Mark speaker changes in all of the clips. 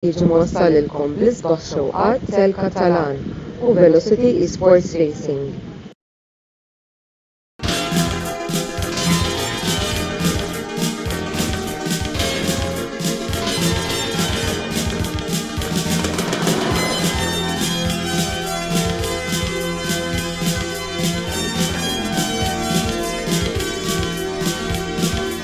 Speaker 1: Jiġi mwassal lilkom bl-isbaħ xewqat Tel Catalan u Velocity Esports Racing.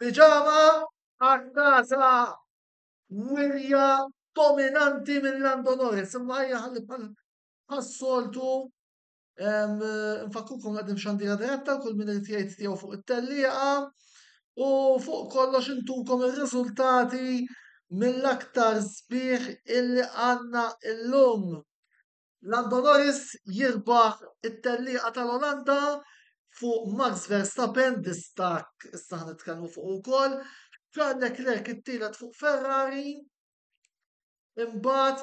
Speaker 2: Piġama għat-tagħża wirja dominanti minn Lando Norris, imma hija ħalli bħas-soltu nfakkukom għadim xandira diretta kull min irid jgħid tiegħu fuq it-tellieqa u fuq kollox intukom ir-riżultati mill-aktar sbieħ illi għandna illum. Lando Norris jirbaħ it-tellieqa tal-Olanda fuq Max Verstappen, distakk issa ħnitkellmu fuq ukoll. Charles Leclerc it-tielet fuq Ferrari. Imbagħad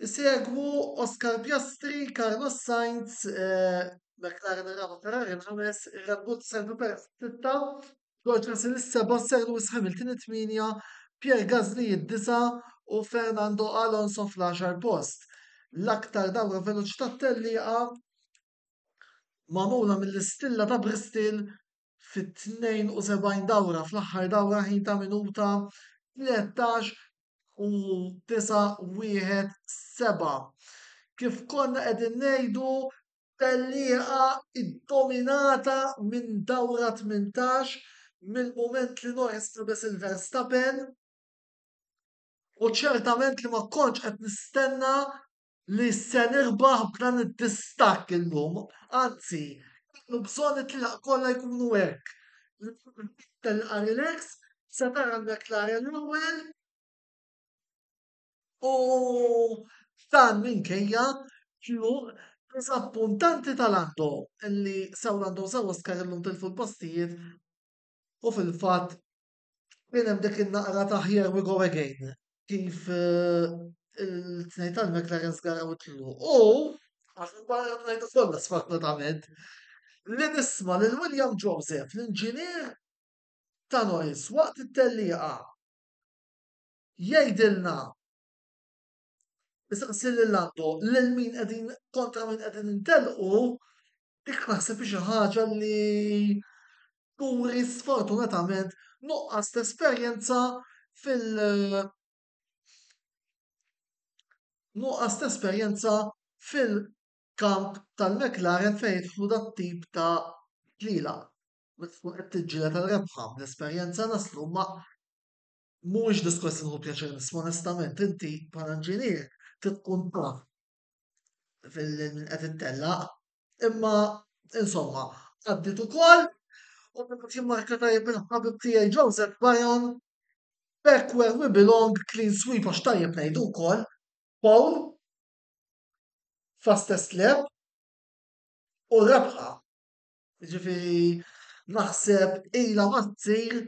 Speaker 2: isegwu Oscar Piastri, Carlos Sainz, eh, McLaren ir-raba' Ferrari l-ħames, Red Bull Sergio Perez sitta, George Russell is-seba', Sir Lewis Hamilton it-tmienja, Pierre Gasly id-disa' u Fernando Alonso fl-għaxar post. L-aktar dawra veloċi tat-tellieqa magħmula mill-istilla ta' Bristol fit-72 dawra fl-aħħar dawra ħin ta' minuta 13 u 9 1 7. Kif konna qegħdin ngħidu tellieqa ddominata minn dawra tmintax mill-mument li Norris labes il-Verstappen u ċertament li ma kontx qed nistenna li se nirbaħ b'dan id-distakk illum, anzi kellu bżonn it-tlielaq kollha jkunu hekk. Tellieqa relax, se tara l-McLaren l-ewwel. U dan minkejja tluq diżappuntanti ta' Lando li sew Lando sew Oscar illum tilfu l-postijiet u fil-fatt kien hemm dik in-naqra ta' here we go again kif eh, il-tnejn tal-McLaren żgaraw it-tluq. U għax il-barra ngħidu kollha sfortunatament li nisma' lil William Joseph, l-inġinier ta' noise waqt it-tellieqa jgħidilna Isaqsi lil għandu lil min qegħdin kontra min qegħdin intelqu dik naħseb xi ħaġa li turi sfortunatament nuqqas ta' esperjenza fil- nuqqas ta' esperjenza fil-kamp tal-McLaren fejn jidħlu dat tip ta' ġliela. Meta tkun qed tiġġieled għal rebħa bl-esperjenza naslu ma' Mhuwiex diskors li hu pjaċir nisma' onestament, inti bħala inġinier trid tkun taf minn qed ittellaq, imma insomma għaddiet ukoll u min qed jimmarka tajjeb minn ħabib tiegħi Joseph Bayon, Back where we belong, clean sweep għax tajjeb ngħidu wkoll, foul, fastest lap u rebħa. Jiġifieri naħseb ilha ma ssir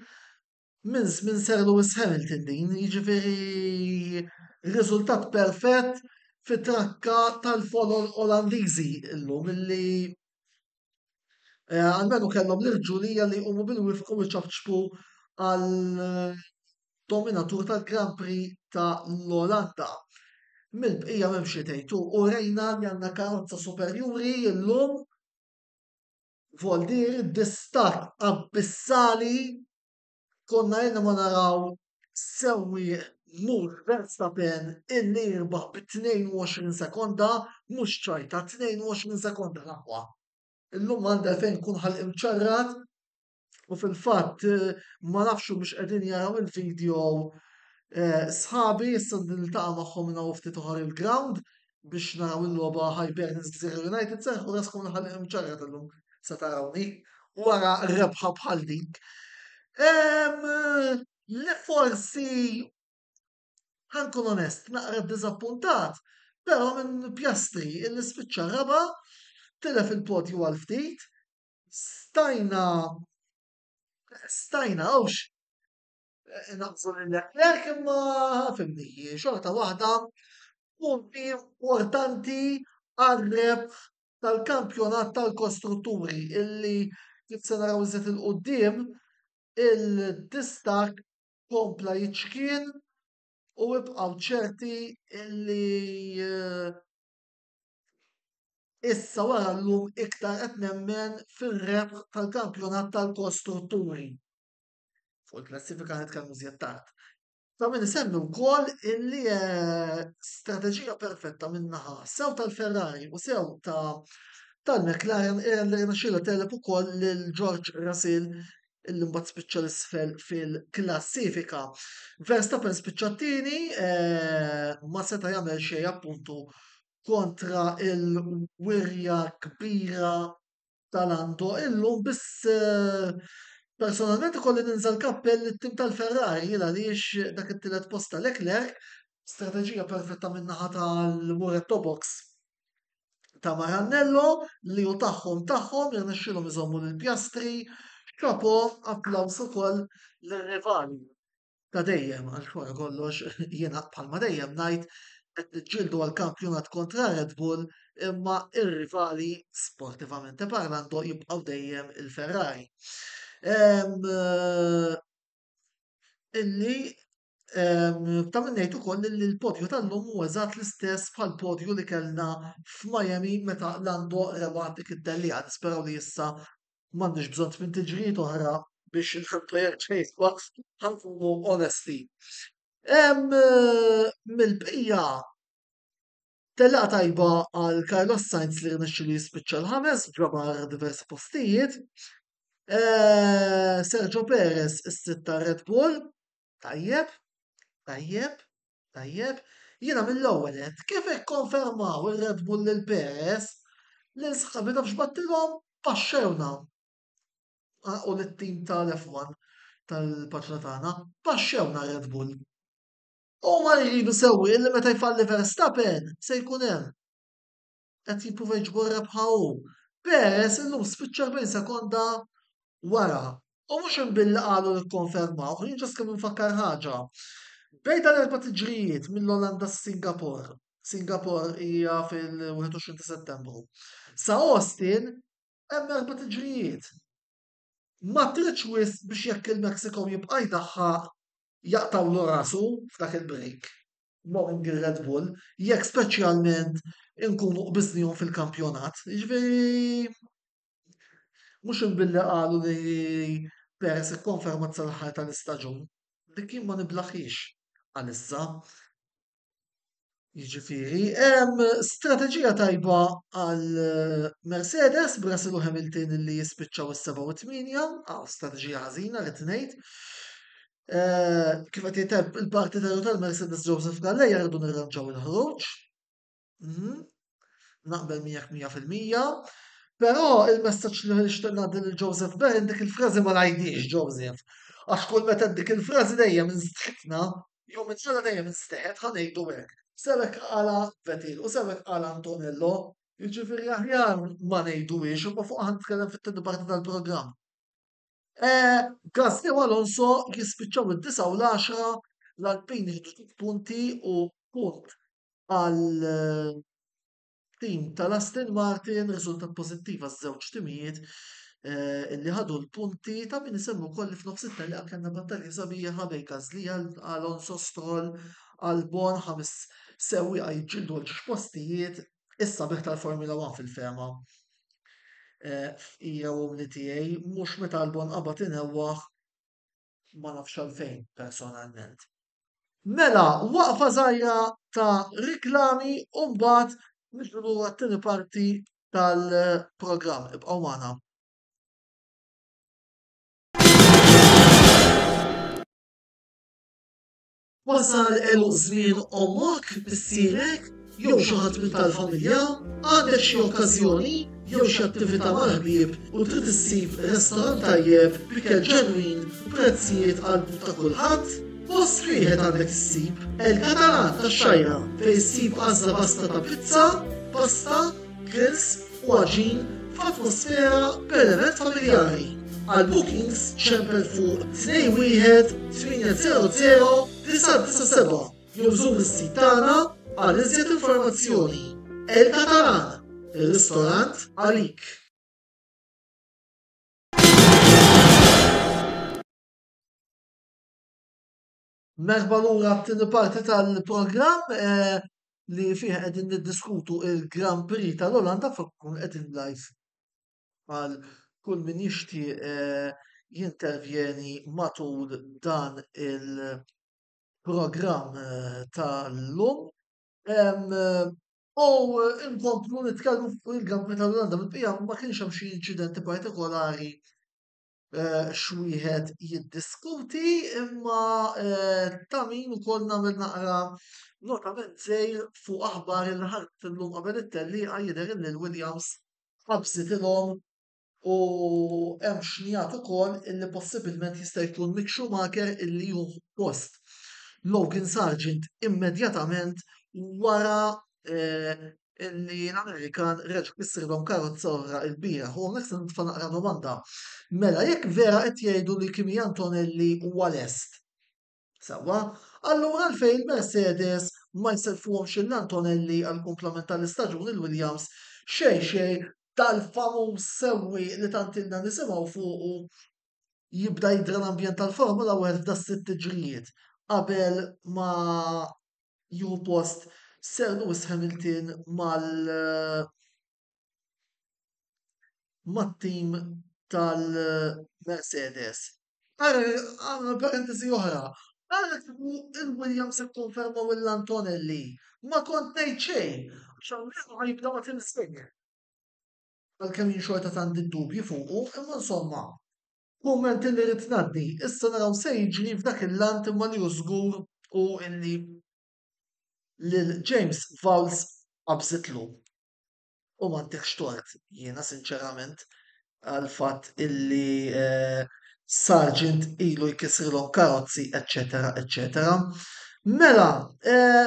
Speaker 2: Minn żmien Sir Lewis Hamilton din, jiġifieri r-riżultat perfett fi trakka tal-folol Olandiżi llum illi almenu kellhom l-irġulija li jqumu bil-wifqa u jċapċpu għad-dominatur tal-Grand Prix ta' l-Olanda. Mill-bqija m'hemm xi tgħid, u rejna li għandna karozza superjuri llum. Voldir, distakk abbissali, konna ilna ma naraw sewwieq Max Verstappen illi jirbaħ bi 22 sekonda, mhux ċajta, 22 sekonda l-aqwa. Illum m'għandi għalfejn nkun ħalqi mċarrat u fil-fatt ma nafx mhux qegħdin jaraw il-video eh, sħabi issa niltaqa' magħhom minn hawn ftit oħra il-ground biex naraw il-logħba Hibernians Gżira United serħu raskom l-ħalliq imċarra tal-lum se tarawni wara rebħa bħal dik. Li forsi ħankun onest, naqra dizappuntat, però minn pjastri il spiċċa raba, tilef il-podju għal ftit, stajna stajna għawx Inaqsu lil Leclerc imma fimni hi xorta waħda punti importanti għar-rebħ tal-kampjonat tal-kostrutturi illi kif se naraw iżjed il-qudiem il-distak kompla jiċkien u ibqgħu ċerti illi eh, issa wara llum iktar qed nemmen fir-rebħ tal-kampjonat tal-kostrutturi. fuq il-klassifika qed kemm iżjed tard. Ta' min isemmi wkoll illi eh, strateġija perfetta minnaħa sew tal-Ferrari u sew ta' tal-McLaren era li rnexxila telep ukoll lil George Russell illi mbagħad spiċċa l-isfel fil-klassifika. Verstappen spiċċa t-tieni eh, ma seta' jagħmel xejn appuntu kontra il-wirja kbira ta' Nanto illum biss eh, personalment ikolli ninżel kappell it-tim tal-Ferrari jien għaliex dak it-tielet post ta' Leclerc strateġija perfetta min-naħa tal-Muretto Box ta' Marannello li u tagħhom tagħhom jirnexxilhom iżommu lill-pjastri xapo applawż ukoll lir-rivali. ta' dejjem għax wara kollox jiena bħalma dejjem ngħid qed niġġieldu għal kampjonat kontra Red Bull imma ir-rivali sportivament parlando jibqgħu dejjem il-Ferrari. Ehm, eh, illi ehm, ta' minnejt ukoll li l-podju tal-lum huwa eżatt l-istess bħal podju li kellna f'Miami meta Lando rebat dik id-delija nisperaw li issa M'għandniex bżonn tmien tiġrijiet oħra biex inħantu jekk xejn waqt ħa nkunu onesti. Mill-bqija tellieqa tajba għal Carlos Sainz li rnexxilu jispiċċa l-ħames ġabar diversi postijiet. Eh, Sergio Perez is-sitta Red Bull Tajjeb, tajjeb, tajjeb. Jiena mill-ewwel qed kif ikkonfermaw ir-Red Bull lil Perez, lil sħabi nafx battilhom paxxewna. U lit-tim tal-F1 tal-paġna tagħna, paxxewna Red Bull. Huma jridu sewwieq li meta jfalli Verstappen se jkun hemm. qed jipprova jġibu r-rebħa hu, Perez illum spiċċa 40 sekonda wara. U mhux hemm billi qalu li kkonfermawh, jien ġast kemm infakkar ħaġa. Bejn dan erba' tiġrijiet mill-Olanda s-Singapore, Singapore hija fil-21 ta' Settembru, sa Austin hemm erba' tiġrijiet. ma tridx wisq biex jekk il-Mexico jibqa' jdaħħaq jaqtgħulu rasu f'dak il-break, knowing ir-Red Bull, jekk speċjalment inkunu qbiżnihom fil-kampjonat. Jiġifieri mhux imbilli qalu li Perez ikkonfermat sal-aħħar tal-istaġun, dik jien ma niblaħhiex għalissa. Jiġifieri hemm strateġija tajba għal eh, Mercedes b'Russell u Hamilton li jispiċċaw is-7 u 8, għaw strateġija ħażina rrid ngħid. Eh, kif qed jiteb il-parti tal-Mercedes Joseph Galleja rridu nirranġaw il-ħruġ. Mhm. Naqbel miegħek mija fil-mija. Però il-messaġġ li nixtieq ngħaddi lil Joseph Ben dik il-frażi ma ngħidix Joseph. Għax kull meta dik il-frażi dejjem instħitna, jew minn ġara dejjem instħet ħa ngħidu hekk. Sewek qala Vetil u sewek qala Antonello, jiġifieri aħjar ma ngħiduhiex imma fuqha ħa nitkellem fit-tieni parti tal-programm. Gasly u Alonso jispiċċaw id-disgħa u l-għaxra, l-Alpine jiġbdu tliet punti u punt għat-tim tal-Aston Martin, riżultat pożittiv għaż-żewġ timijiet li ħadu l-punti ta' min isemmi wkoll li f'nofs it-telqa kellna battalja sabiħa bejn Gasly, Alonso, Stroll, Albon, ħames sewwieqa jiġġieldu għal ġiex postijiet Is-sabiħ tal-Formula One fil-fehma hija u li tiegħi mhux meta Albon qabad inewwaħ ma nafx għalfejn personalment. Mela, waqfa żgħira ta' riklami u mbagħad nixbru lura t-tieni parti tal-programm. Ibqgħu magħna. Wasal għeluq żmien ommok, missierek, jew xi ħadd minn tal-familja? Għandek xi okkażjoni jew xi attività mal-ħbieb u trid issib restorant tajjeb b'ikel ġenwin b'prezzijiet għall-but ta' kulħadd? Post wieħed għandek issib El Catalan tax-Xajra fejn issib għażla vasta ta' pizza, pasta, grills, u għaġin f'atmosfera b'element familjari. Għal bookings ċempel fuq 21 800 997 jew żur is-sit tagħna għal iżjed informazzjoni. El Catalan, ir-ristorant għalik. Merħba lura t-tieni parti tal-programm eh, li fih qegħdin niddiskutu il-Grand Prix tal-Olanda fuq kun qegħdin live għal kull min jixti eh, jintervjeni matul dan il-programm eh, tal-lum. U inkomplu nitkellmu fuq il-Grand Prix tal-Olanda, bil-bija ma kienx hemm xi inċidenti partikolari Eh, xwieħed jiddiskuti imma eh, ta' min ukoll nagħmel naqra notament sejr fuq aħbar il ħadd illum qabel it-telli jidher li l-Williams ħabsitilhom u hemm xnijat ukoll illi possibilment jista' jkun Mick Schumacher illi hu post Logan Sargent immedjatament wara eh, illi l-Amerikan reġa' kissrilhom karozza oħra il-bieraħ. U hawnhekk se nitfa' naqra domanda. Mela jekk vera qed jgħidu li Kimi Antonelli huwa lest. Sewwa, allura għalfejn il-Mercedes ma jselfuhomx lil Antonelli għall-kumplament tal-istaġun il-Williams xejn xejn dal-famuż sewwieq li tant ilna nisimgħu fuqu jibda jidra l-ambjent tal-Formula 1 f'da sitt tiġrijiet qabel ma jieħu post Sir Lewis Hamilton mal mat-tim tal-Mercedes. Għamlu parentesi oħra, ara kieku il-Williams ikkonfermaw l-Antonelli, ma kont ngħid xejn, għax almenu ħajibda ma' Tim Slick. għalkemm jien xorta tant id-dubji fuqu, imma insomma, kumment li rrid ngħaddi. Issa naraw se jiġri f'dak il-lant imma li hu żgur hu illi lil James Vowles qabżitlu. U m'għandekx tort jiena sinċerament għal fatt illi eh, Sargent ilu jkissrilhom karozzi, eċċetera, eċċetera. Mela, eh,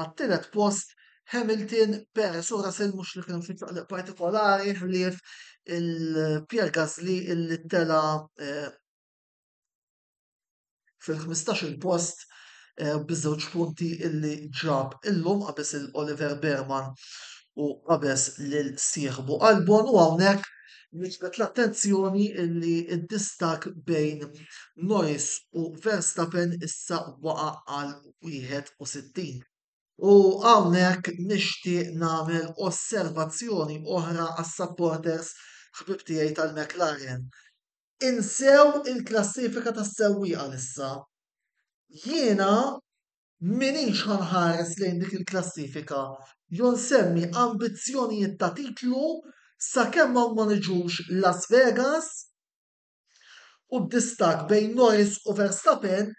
Speaker 2: Għat-tielet post Hamilton, Perez u Russell mhux li kienu fi ċaqliq partikolari ħlief il-Pierre Gasly illi tela eh, fil-15 il-post eh, biż-żewġ punti illi ġab illum qabes il-Oliver Berman u qabes lil sieħbu Albon u hawnhekk Nġbet l-attenzjoni li id-distak bejn Norris u Verstappen issa waqa għal 61. U hawnhekk nixtieq nagħmel osservazzjoni oħra għas-supporters ħbib tiegħi tal-McLaren. Insew il-klassifika tas-sewwieqa issa. Jiena minix ħanħares lejn dik il-klassifika jew nsemmi ambizzjonijiet ta' titlu sakemm hawn ma niġux Las Vegas u d-distakk bejn Norris u Verstappen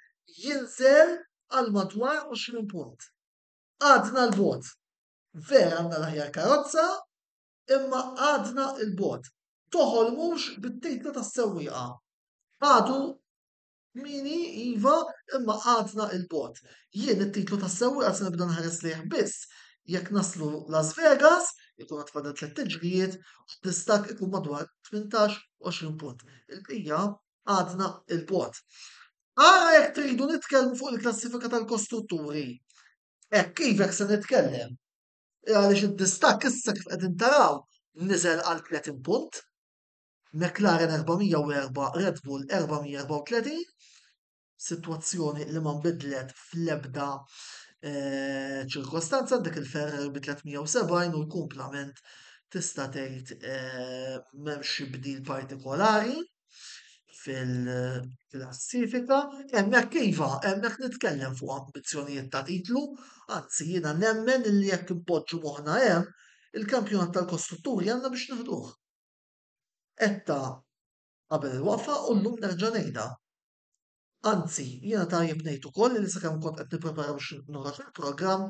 Speaker 2: jinżel għal madwar 20 punt. Għadna 'l bogħod. Vera għandna l-aħjar karozza, imma għadna 'l bogħod. Toħolmux bit-titlu tas-sewwieqa. Għadu Kmieni, iva, imma għadna 'il bogħod. Jien it-titlu tas-sewwieqa se nibda nħares lejh biss jekk naslu Las Vegas, ikun għad fadal tlett tiġrijiet u d-distakk ikun madwar tmintax, għoxrin punt. Il-bqija għadna 'il bogħod. Ara jekk tridu nitkellmu fuq il-klassifika tal-kostrutturi. Hekk iva hekk se nitkellem. Għaliex id-distakk issa kif qegħdin taraw niżel għal 30 punt. McLaren 404, Red Bull 434, situazzjoni li ma nbidlet fl-ebda eh, ċirkostanza dik il-Ferrari bi 370 u l-kumplament tista' tgħid eh, m'hemmx xi bdil partikolari fil-klassifika, hemmhekk iva, hemmhekk nitkellem fuq ambizzjonijiet ta' titlu, anzi jiena nemmen li jekk impoġġu moħħna hemm, il-kampjonat tal-kostrutturi għandna biex nieħduh. Għedtha qabel il-waqfa u llum nerġa' ngħidha. Anzi, jiena tajjeb ngħid ukoll li sakemm kont qed nipprepara biex noħroġ il-programm,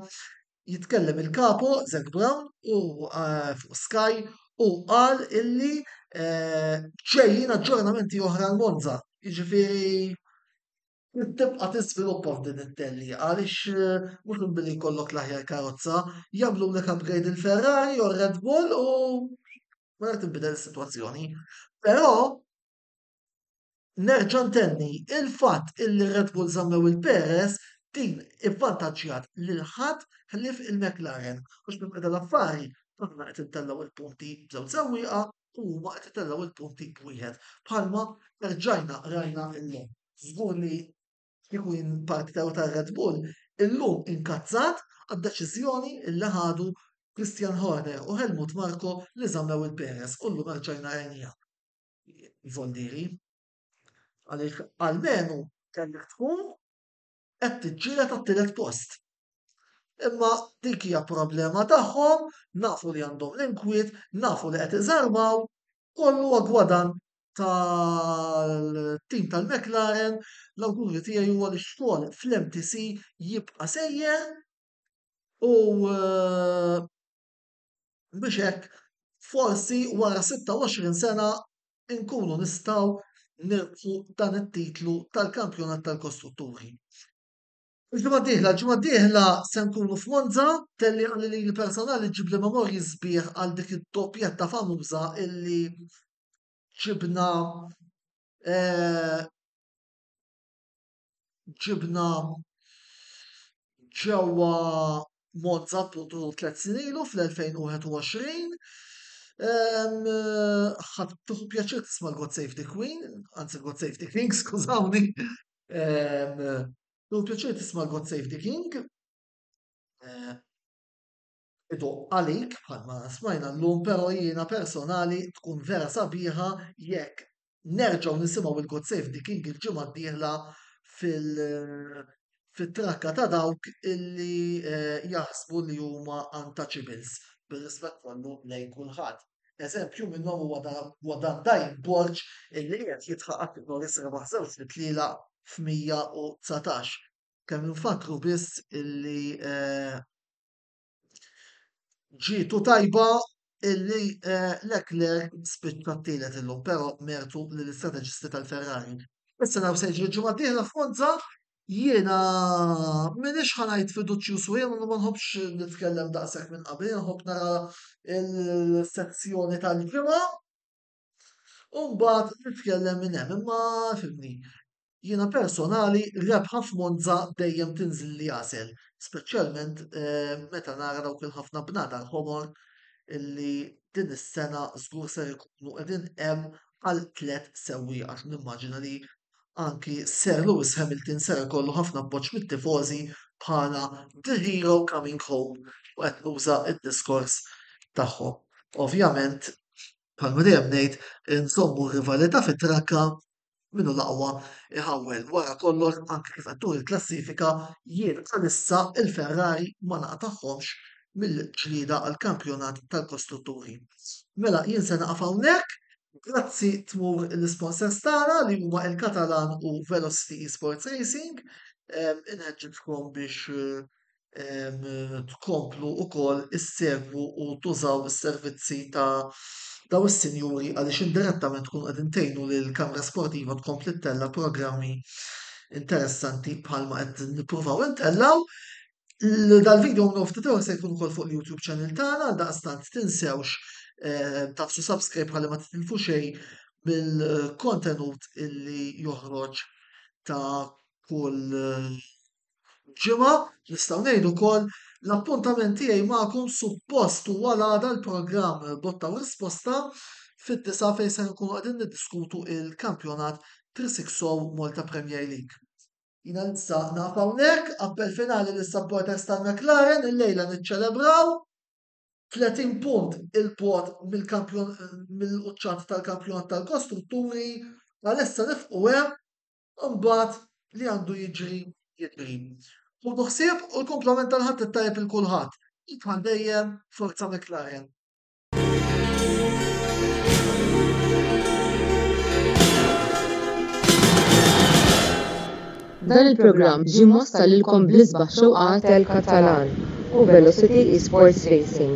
Speaker 2: jitkellem il-Kapo, Zac Brown, u eh, fuq Sky u qal illi eh, ġejjin aġġornamenti oħra l-Monza. Jiġifieri Trid tibqa' tiżviluppa f'din it-tellieqa għaliex eh, mhux minn billi jkollok l-aħjar karozza, jagħmlulek upgrade il-Ferrari u r-Red Bull u ma tinbidel is-sitwazzjoni. Però nerġa' ntenni il-fatt illi Red Bull żammew il-Perez din ivvantaġġjat lil ħadd ħlief il-McLaren għax minn qeda l-affari aħna qed intellgħu il-punti b'żewġ sewwieqa u huma qed itellgħu il-punti b'wieħed bħalma rġajna rajna illum. żgur li kieku jien partnerju ta' Red Bull, illum inkazzat għad-deċiżjoni li ħadu Christian Horner u Helmut Marko li żammew lil Perez u llum erġajna rajniha. Jvolli jrid. Għaliex almenu kellek tkun qed tiġġieled għat-tielet post. Imma dik hija problema tagħhom, nafu li għandhom l-inkwiet, nafu li qed iżarmaw, kollu huwa gwadan tal-tim tal-McLaren, l-awguri tiegħi huwa li x-xogħol fl-MTC jibqa' sejjer u eh, biex hekk forsi wara 26 sena nkunu nistgħu nirfu dan it-titlu tal-kampjonat tal-kostrutturi. Il-ġimgħa d-dieħla, ġimgħa d-dieħla se nkunu f'Monza, telli għalli li l-personali ġib li memorji sbieħ għal dik id-doppjetta famuża illi ġibna eh, ġibna ġewwa Monza appuntu tliet snin ilu fl-2021. Ħadd tuħu pjaċir tisma' l-God Save the Queen, anzi God Save the King, skużawni. Tuħu pjaċir tisma' l-God Save the King. idoqq għalik bħalma smajna llum però jiena personali tkun vera sabiħa jekk nerġgħu nisimgħu il-God Save the King il-ġimgħa d-dieħla fil fit-trakka ta' dawk illi eh, jaħsbu li huma untouchables bir-rispett kollu lejn kulħadd. Eżempju minnhom huwa dan- huwa dan Dajn Borġ illi qed jitħaq għal Norris rebaħ żewġ mitliela f'119. Kemm infakkru biss illi eh, Ġietu tajba illi eh, Leclerc spiċċa t-tielet illum, però mertu li l-istrateġisti tal-Ferrari. Issa naw se jiġri ġimgħa dieħla f'Monza, jiena minix ħanajt fiduċju swiem, ma nħobbx nitkellem daqshekk minn qabel, nħobb nara il-sezzjoni tal-ġimgħa. U mbagħad nitkellem minn hemm, imma fimni. Jiena personali rebħa f'Monza dejjem tinżil li għasel, speċjalment eh, meta nara dawk il-ħafna bnadar ħomor illi din is-sena żgur se jkunu qegħdin hemm għal tliet sewwieq għax nimmaġina li anki Sir Lewis Hamilton se jkollu ħafna appoġġ mit-tifożi bħala the hero coming home u qed nuża d-diskors tagħhom. Ovvjament bħalma dejjem ngħid, inżommu r-rivalità fit-trakka, min hu l-aqwa iħawwel. Wara kollox, anke kif qed turi l-klassifika, jien għalissa il-Ferrari ma naqtagħhomx mill-ġlieda għall-kampjonat tal-kostrutturi. Mela jien se naqaf hawnhekk, grazzi tmur l-isponsors tagħna li huma il-Katalan u Velocity Esports Racing. Inħeġġiġkom biex eh, tkomplu wkoll issegwu u tużaw is-servizzi ta' dawn is-sinjuri għaliex indirettament tkunu qegħdin tgħinu lill-Kamra Sportiva tkompli ttella' programmi interessanti bħalma qed nippruvaw intellgħu. Dal-video minn ftit ieħor se jkun ukoll fuq il-YouTube channel tagħna għal daqstant tinsewx tafsu subscribe ħalli ma titilfu xejn mill-kontenut illi joħroġ ta' kull ġimgħa nistgħu ngħidu wkoll l-appuntament tiegħi magħkom suppost huwa l-għada l-programm botta u risposta fid-disa fejn se nkunu qegħdin niddiskutu il-kampjonat 360 Malta Premier League. Jina nista naf hawnhekk, appell finali lis supporters tal-McLaren, il-lejla niċċelebraw 30 punt il-bot mill-quċċat tal-kampjonat tal-kostrutturi, għalissa nifqu hemm Imbagħad li għandu jiġri jiġri. Ħudu ħsieb u l-kumplament tal-Ħadd it-Tajjeb il kulħadd. Id bħal dejjem, Forza McLaren.
Speaker 1: Dan il-programm ġie mossa lilkom bl-isbaħ xewqat tal-Katalan u Velocity Esports Racing.